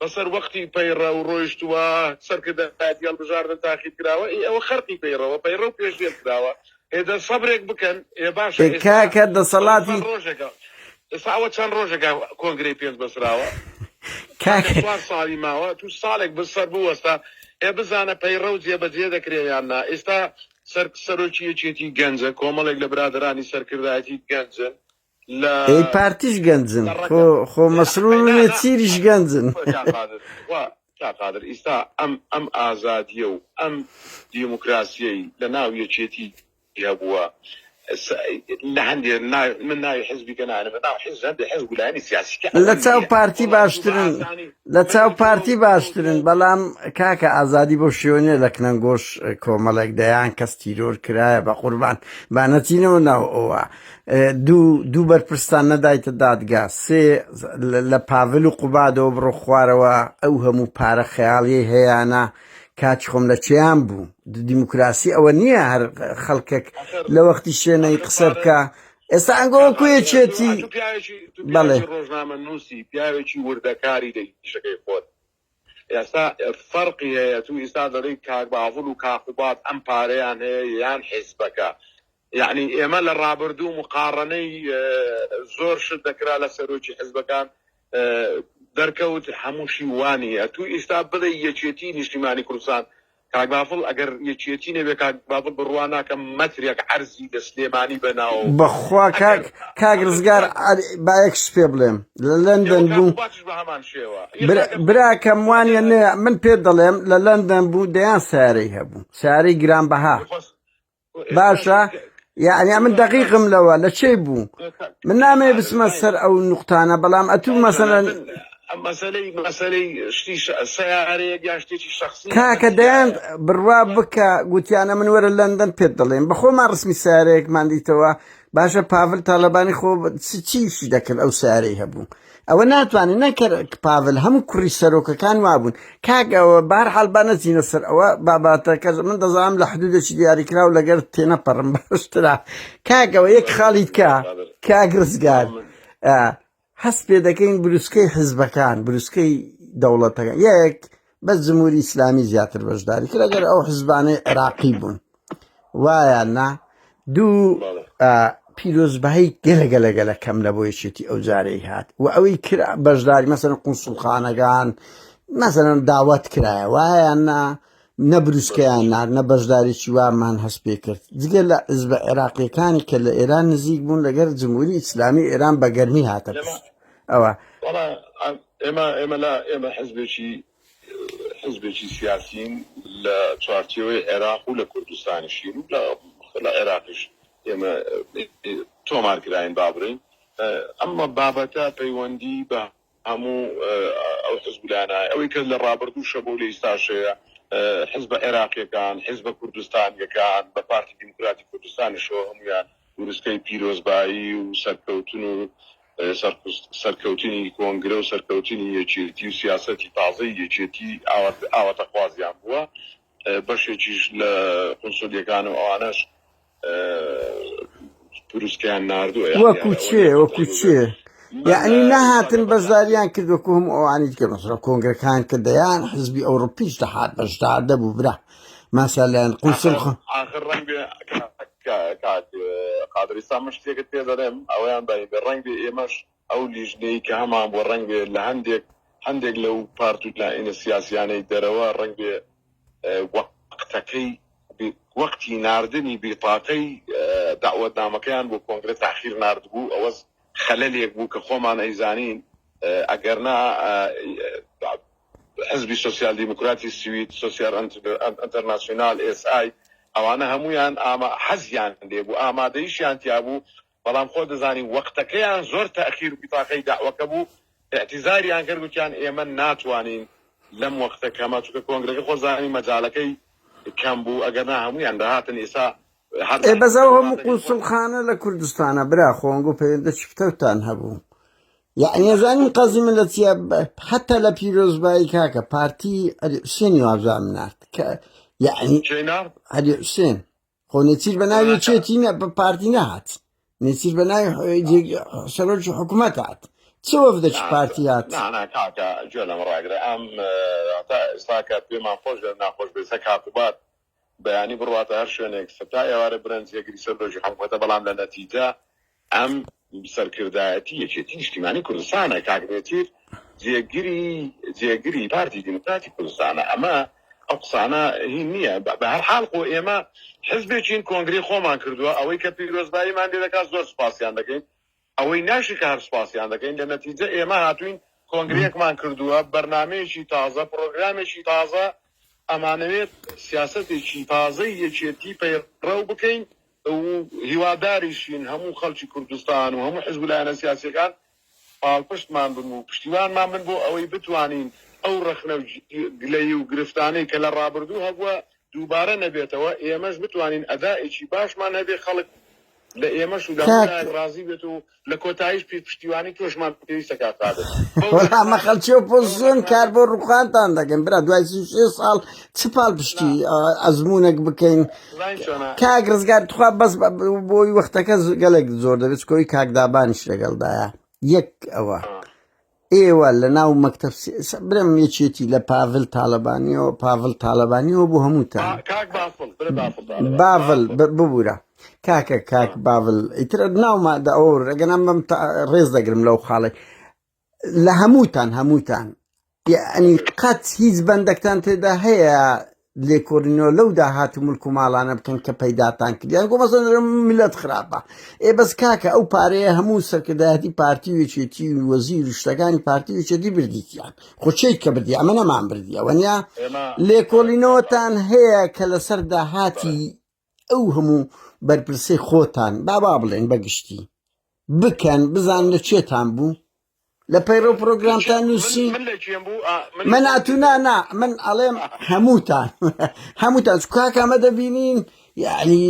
بەسەر وەقتی پەیڕە و ڕۆیشتووە سەرکردایەتی هەڵبژاردن تاقیت کراوە ئێ ئەوە خەرقی پەیڕەوە پەیڕە و پێشێل کراوە ئێ دە سەبرێک بکەن ئێ باشە ئێ ئێستا کاکە دەسەڵاتی چەند ڕۆژێکە ئێستا ئەوە چەند ڕۆژێکە کۆنگرەی پێنج بەسراوە کاکە کاکە چوار ساڵی ماوە تو ساڵێک بر سەر بوەستە ئێ بزانە پەیڕە و جێبەجێ دەکرێ یان نا ئێستا سەر سەرۆکی یەکێتی گەنجە کۆمەڵێک لە برادەرانی سەرکردایەتی گەنجن ئەی پارتیش گەنجن خۆ خۆ مەسرور و نێچیریش گەنجن. کاک قادر ئیستا ئەم ئەم ئازادیە و ئەم دیموکراسیەی لە ناو یەکێتی هەبووە لە هەندێ من ناوی حزبی کە نانە بە ناو حزب هەندێ حزب و لایەنی سیاسی کە لە چاو پارتی باشترن لە چاو پارتی باشترن بەڵام کاکە ئازادی بۆ شوێنێ لە کنەنگۆش کۆمەڵێک دەیان کەس تیرۆر کرایە بە قوربان با نەچینەوە ناو ئەوە دوو دوو بەرپرستان نەدایتە دادگا سێ لە پاڤل و قوبادەوە بڕۆ خوارەوە ئەو هەموو پارە خەیاڵیەی هەیەە کاچ خۆم لە چیان بوو دیموکراسی ئەوە نییە هەر خەڵکێک لە وەختی شوێنەی قسە بکە ئێستا ئەنگۆ کوێچێتی بەڵێ ڕۆژنامە نووسی پیاوێکی وردەکاری لە شەکەی خۆت ئێستا فەرقی هەیە تو ئیستا دەڵێی کاک باڤڵ و کاک قوباد ئەم پارەیان هەیە یان حیزبەکە یەعنی ئێمە لە ڕابردوو مقاڕەنەی زۆر شت دەکرا لە سەرۆکی حیزبەکان دەرکەوت هەمووشی وانیە تو ئیستا بڵێ یەکێتی نیشتیمانی کوردستان کاک بافڵ ئەگەر یەکێتی نەبێ کاک بافڵ بڕوا ناکەم مەترێک عەرزی لە سلێمانی بە ناو بەخوا کاک کاک ڕزگار عەلی با یەک شت پێ بڵێم لە لەندەن بوو کاک باتش بە هەمان شێوە یە برا- کاکە براکەم وانە نێ من پێ دەڵێم لە لەندەن بوو دەیان سارەی هەبوو سارەی گرانبەها خۆس باشە یعنی من دقیقم لەوە لە چێ بوو من نامێ بسمە سەر ئەو نقطانە بەڵام ئەتوو مەسەرەن مەسلەی مەسلەی شتی سیارەیە یا شتێکی شخصی کاکە دەیان بڕوا بکە گوتیانە من وەرە لەندەن پێت دەڵێن بەخۆمان ڕسمی سیارەیەکمان دیتەوە باشە پاڤل تاالبانی خۆ چیشی دەکرد ئەو سیارەی هەبوو ئەوە ناتوانێت نەکەر پاڤل هەموو کوڕی سەرۆکەکان وابوون کاک ئەوە بار حالبا نەچینە سەر ئەوە باباتەکە من دەزانم لە حدودێکی دیاریکراو لەگەر تێنەپەڕم باشترا کاکەوە یەک خاڵی کا کاک ڕزگار هەست پێ دەکەین بروسکەی حزبەکان بروسکەی دەوڵەتەکە یەک بەس جمهوری ئیسلامی زیاتر بەشداری کرد ئەگەر ئەو حزبانەی عێراقی بوون وایە نا دوو پیرۆزبایی گەلەگەلەگەلە کەم لە بۆ یەکێتی ئەو جارەی هات و ئەوەی کرا بەشداری مەسەن قونسڵخانەکان مەسەرەن داوات کرایە وایە نا نەبروسکەیان نار نە بەشداریی وامان هەست پێ کرد جگە لە ئز بە عێراقیەکانی کە لە ئێران نزیک بوون لەگەر جمهوری ئیسلامی ئێران بەگەرمی هاتە پشت ئەوە وەڵا ئێمە ئێمە لا ئێمە حزبێکی حزبێکی سیاسین لە چوارچێوەی عێراق و لە کوردستانیشین و لە لە عێراقیش ئێمە تۆمارکراین با بڵێین ئەمە بابەتە پەیوەندی بە هەموو ئەو حزبلانە ئەوەی کە لە ڕابردوو شەبۆ لە ئیستاشەیە حزب عێراقیەکان حزب کوردستانیەکان بە پارتی دیموکراتی کوردستانیشەوە هەمویان گورسکەی پیرۆزبایی و سەرکەوتن و سەرکەوتنی کۆنگرە و سەرکەوتنی یەکێتی و سیاسەتی تازەی یەکێتی ئاوات ئاواتەخوازیان بووە، بەشێکیش لە قونسولیەکان و ئەوانەش پروسکەیان ناردووە یان وەکو دیارە، چێ وەلێ وەکو قەتیلو چێ بێت من یەعنی لە نەهاتن ئیسلامیەکان بەشداریان کرد وەکو هەموو ئەوانی دیکە مەسەلەن کۆنگرەکان کە دەیان حزبی ئەوڕپیش دەهات بەشدار دەبوو برا مەسەلەن قونسل ئاخر خۆ ئاخر ڕەنگبێ کاک کاک قادرئیستا من شتێکت پێ دەرێم ئەوەیان بەیبێ ڕەنگ بێ ئێمەش ئەو لیژنەی کە هەمان بوە ڕەنگ بێ لە هەندێک هەندێک لەو پارت و لایەنە سیاسیانەی دەرەوە ڕەنگ بێ وەقتەکەی وەقتی ناردنی بیتاقەی داوەتنامەکەیان بۆ کۆنگرە تاخیر ناردبوو ئەوەز خەلەلێک بوو کە خۆمان ئەیزانین ئەگەرنا حزبی سۆسیال دیموکراتی سوید، سۆسیال ئەنتەرناسیونال، SI، ئەوانە هەموویان حەزیان لێبوو، ئامادەیشیان تیابوو، بەڵام خۆت دەزانی وەقتەکەیان زۆر تاخیر و بیتاقەی دەعوەکە بوو، ئیعتیزاریان کرد، گوتیان ئێمە ناتوانین لەم وەقتە کەمە، چونکە کۆنگرەکە خۆت دەزانی مەجالەکەی کەم بوو، ئەگەرنا هەموویان دەهاتن، ئیستا هەر ئێ بەس ئەو هەموو قونسوڵخانە لە کوردستانە برا خۆنگ و پەیوەندە چی پتەوتان هەبوو؟ یعنی ئەزانین قەزی من لە چیە حتا لە پیرۆزبایی کاکە پارتی ئەری حوسێنی وازان نارد کە یعنی ئەری حوسێن خۆ نێچیر بە ناوی چێتی نە بە پارتی نهات نێچیر بە ناوی سەرۆکی حکوومەت هات چ وەفدەکی پارتی هات گوێ لەم ڕاگرە ئەم ئێستا کە پێمان خۆش ناخۆش بێسە کاتوبات بەیانی بڕواتە هەر شوێنێک سەتا ئێوارە برەن جێگری سەر دۆشی حکومەتە بەڵام لە نەتیجە ئەم سەرکردایەتی یەکێتی نیشتیمانی کوردستانە کاک نێچیر جێگری جێگری پارتی دیموکراتی کوردستانە ئەمە ئەو قسانە هی نییە بە بە هەر حال خۆ ئێمە حزبێکین کۆنگری خۆمان کردووە ئەوەی کە پیرۆزباییمان لێ دەکات زۆر سوپاسیان دەکەین ئەوەی ناشی کە هەر سوپاسیان دەکەین، لە نەتیجە ئێمە هاتووین کۆنگرەیەکمان کردووە، بەرنامەیەکی تازە، پرۆگرامێکی تازە، ئەمانەوێت سیاسەتێکی تازەی یەکێتی پەیڕەو بکەین و هیواداریشین هەموو خەڵکی کوردستان و هەموو حزب و لایەنە سیاسییەکان پاڵپشتمان بن و پشتیوانمان بن بۆ ئەوەی بتوانین ئەو ڕەخنە و گلەیی و گرفتانەی کە لە ڕابردوو هەبووە دووبارە نەبێتەوە ئێمەش بتوانین ئەدائێکی باشمان هەبێ خەڵک لە ئێمەش و لە هەموو لایەک ڕازی بێت و لە کۆتاییش پێ پشتیوانی تۆشمان پێویستە کاک قادر وەڵا مە خەڵکی ئۆپۆزسیۆن کار بۆ ڕووخانتان دەکەین برا دوای سی و شێ ساڵ چ پاڵ پشتی ئا- ئەزموونێک بکەین زانین چۆنە کاک ڕزگار تخوا بەس بە- بە- بۆی وەختەکە ز- گەلێک زۆر دەبێت چکۆی کاک دابانیش لەگەڵدایە یەک ئەوە ئێوە لە ناو مەکتب برم یەکێتی لە پاڤل تاالبانیەوە پاڤل تاالبانیەوە بۆ هەمووتان باڤل ببوورە کاکە کاک باڤل ئیتر ناوما دە ئەو ڕێگەنام بەم ڕێز دەگرم لەو خاڵی لە هەمووتان هەمووتان ئەنی قەت هیچ بەندەکتان تێدا هەیە لێکۆلینەوە لەو داهات و ملک و ماڵانە بکەن کە پەیداتان کردیان گۆ مەسەن ملت خراپە ئێ بەس کاکە ئەو پارەیە هەموو سەرکردایەتی پارتی وێچێتی وەزیر و شتەکانی پارتی وێچێتی بردیتیان خۆچەی کە بردی ئەمە نەمان بردیەوە نیا لێکۆلینەوەتان هەیە کە لەسەر داهاتی ئەو هەموو بەرپرسەی خۆتان با با بڵێن بەگشتی بکەن بزان لە چێتان بوو لە پەیڕە پرۆگرامتان نووسی من ئاتونانا من ئەڵێم هەمووتان هەمووتان کاکامە دەبینین یعنی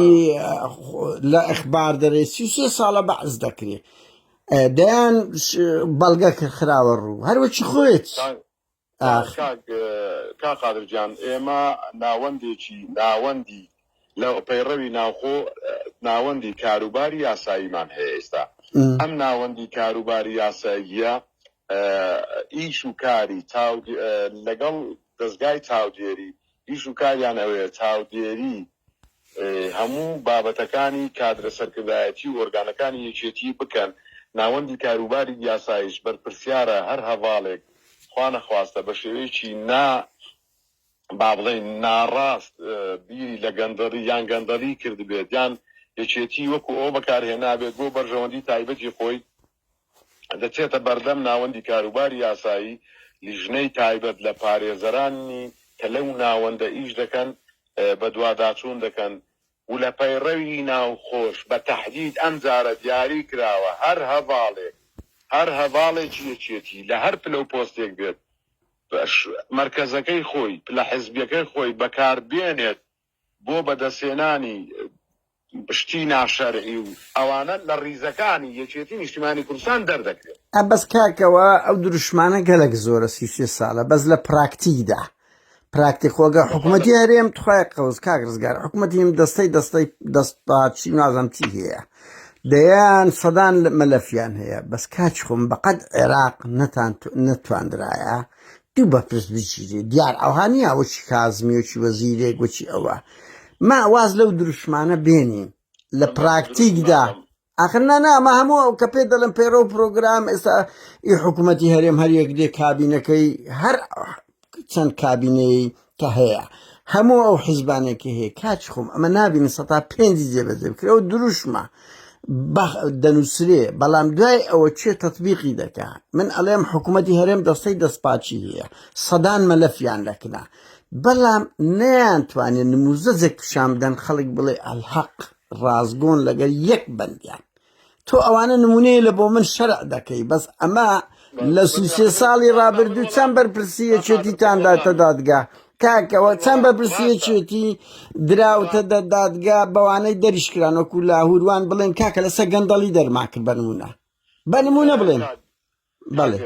لە ئەخبار دەرێ سی سێ ساڵە بەعز دەکرێت دەیان بەڵگە کە خراوە ڕوو هەروەکی خۆێت ئاخ. کاک کاک قادر گیان ئێمە ناوەندێکی ناوەندی لە پەیڕەوی ناوخۆ ناوەندی کاروباری یاساییمان هەیە ئێستا ئەم ناوەندی کاروباری یاساییە ئیش و کاری چاو لەگەڵ دەزگای چاودێری ئیش و کاریان ئەوەیە چاودێری هەموو بابەتەکانی کادرە سەرکردایەتی و ئۆرگانەکانی یەکێتی بکەن، ناوەندی کاروباری یاسایش بەرپرسیارە هەر هەڤاڵێک خوانەخواستە بە شێوەیەکی نا با بڵێین ناڕاست بیری لە گەندەڵی یان گەندەڵی کردبێت یان یەکێتی وەکو ئەوە بەکارهێنابێت بۆ بەرژەوەندی تایبەتی خۆی، دەچێتە بەردەم ناوەندی کاروباری یاسایی، لیژنەی تایبەت لە پارێزەرانی کە لەو ناوەندە ئیش دەکەن بەدواداچوون دەکەن و لە پەیڕەوی ناوخۆش بە تەحدید ئەم جارە دیاری کراوە هەر هەڤاڵێک هەر هەڤاڵێکی یەکێتی لە هەر پلە و پۆستێک بێت مەرکەزەکەی خۆی، پلە حزبیەکەی خۆی بەکار بێنێت. بۆ بەدەستهێنانی شتی ناشەرعی و ئەوانە لە ڕیزەکانی یەکێتی نیشتیمانی کوردستان دەردەکرێت. ئا بەس کاکەوە ئەو دروشمانە گەلەک زۆرە سی و سێ سالە بەس لە پراکتیک دا پراکتی خۆگە حکومەتی هەرێم تخوای قەوز کاک رزگار حکومەتی هەم دەستەی دەستەی دەست پاچی نازم چی هەیە دەیان سەدان مەلەفیان هەیە بەس کاچ خۆم بەقەد عێراق نەتان نەتواندرایە دوو بەپرس بگیرێ دیار ئەوها نییە وەچی کازمی وەچی وەزیرێک وەچی ئەوە ما واز لەو دروشمانە بێنین لە پراکتیکدا ئاخر نانا ئەمە هەموو ئەو کە پێ دەڵم پێرە و پرۆگرام ئێستا ئی حکوومەتتی هەرێم هەر یەک دێ کابینەکەی هەر چەند کابینەی کە هەیە هەموو ئەو حیزبانێکی هەیە کاچ خۆم ئەمە نبینی سە پێنجی جێبەجێ بکرەوە دروشمە دەنووسرێ بەڵام دوای ئەوە چێ تەطببیقی دەکە من ئەڵێم حکوومەتتی هەرێم دەستەی دەستپاچی هەیە سەدان مەلەفیان دەکنا بەڵام نیان توانێت نموزەجێک پیشان بدەن خەڵک بڵێ ئەلحەق ڕازگۆن لەگەر یەک بندیان تۆ ئەوانە نمونەیە لە بۆ من شەرع دەکەی بەس ئەمە لە سوسێ ساڵی ڕابردوو چەند بەرپرسیەچێتیتان داتە دادگا کاکەوە چەند بەرپرسیەچێتی دراوتە دە دادگا بەوانەی دەریشکران وەکو لاهوروان بڵێن کاکە لەسە گەندەڵی دەرماکرد بەنمونە بەنمونە بڵێن بەڵێ.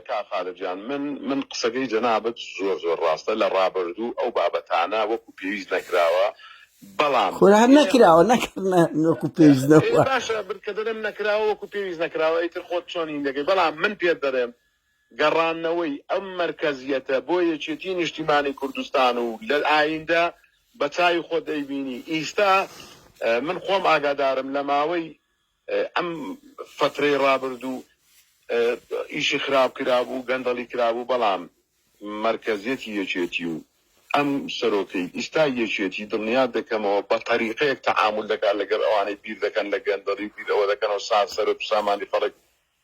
کاک خالد جان من من قسەکەی جەنابت زۆر زۆر ڕاستە لە ڕابردوو ئەو بابەتانە وەکو پێویست نەکراوە بەڵام خۆ هەر نەکراوە نەکردنە وەکو پێویست نەبووە. ئێ باشە بر کە دەرێم نەکراوە وەکو پێویست نەکراوە ئیتر خۆت چۆن هین دەکەی بەڵام من پێت دەرێم گەڕانەوەی ئەم مەرکەزیەتە بۆ یەکێتی نیشتیمانی کوردستان و لە ئایندە بە چاوی خۆت ئەیبینی ئیستا من خۆم ئاگادارم لە ماوەی ئەم فەترەی ڕابردوو ئیشی خراپ کرابوو گەندەڵی کرابوو بەڵام مەرکەزیەتی یەکێتی و ئەم سەرۆکەی ئیستا یەکێتی دڵنیات دەکەمەوە بە تەریقەیەک تەعامول دەکات لەگەڵ ئەوانەی بیر دەکەن لە گەندەڵی و بیر ئەوە دەکەنەوە سا سەرت و سامانی خەڵک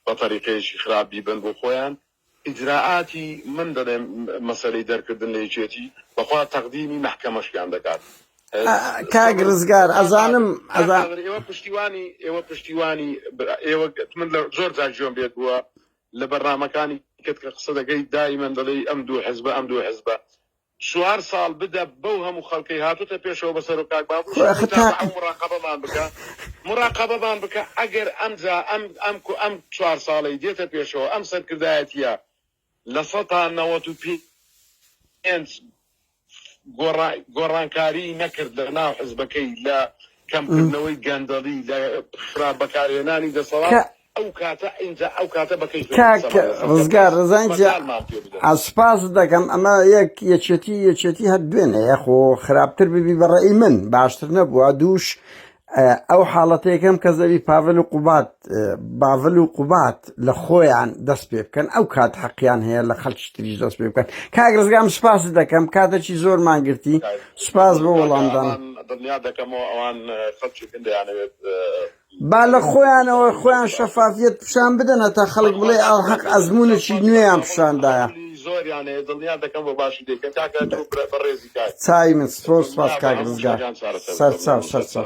بە تەریقەیەکی خراپ بیبەن بۆ خۆیان ئیجرائاتی من دەلێم مەسەلەی دەرکردن لە یەکێتی بەخوا تەقدیمی مەحکەمەشکیان دەکات کاک رزگار ئەزانم ئەزانم پشتیوانی ئێوە پشتیوانی ئێوە من لە زۆر جار جۆم بێت بووە لە بەرنامەکانی کەت کە قسە دەکەی دایمەن دەڵێی ئەم دوو حزبە ئەم دوو حزبە چوار ساڵ بدە بەو هەموو خەڵکەی هاتۆتە پێشەوە بەسەرۆ کاک بابوش خۆ ئەخە تا. هەموو مڕاقەبەمان بکە مڕاقەبەمان بکە ئەگەر ئەمجا ئەم ئەم کو ئەم چوار ساڵەی دێتە پێشەوە ئەم سەرکردایەتیە لە سەتا نەوەت و پێنج گۆڕا گۆڕانکاری نەکرد لە ناو حزبەکەی لە کەمکردنەوەی گەندەڵی لە خراپ بەکارهێنانی دەسەڵات کاک ڕزگار ڕزای جا سوپاست دەکەم ئەمە یەک یەکێتی یەکێتی هەر دوێنەیە خۆ خراپتر ببی بە ڕێی من باشتر نەبووە دووش ئەو حاڵەتەکەم کە زەوی پاڤل و قوبات باڤل و قوبات لە خۆیان دەست پێ بکەن ئەو کات حەقیان هەیە لە خەڵکی تریش دەست پێ بکەن کاک ڕزگام سوپاس دەکەم کاتەکی زۆر ماگرتی سوپاس بۆ وەڵامدان دڵنیا دەکەمەوە ئەوان خەڵکی گەندیانەوێت با لە خۆیانەوە خۆیان شەفافیت پیشان بدەنە تا خەڵک بڵێ ئەو حەق ئەزمونێکی نوێیان پیشاندایە چای من سپۆر سپاس کاک ڕزگار سەرچاو سەرچاو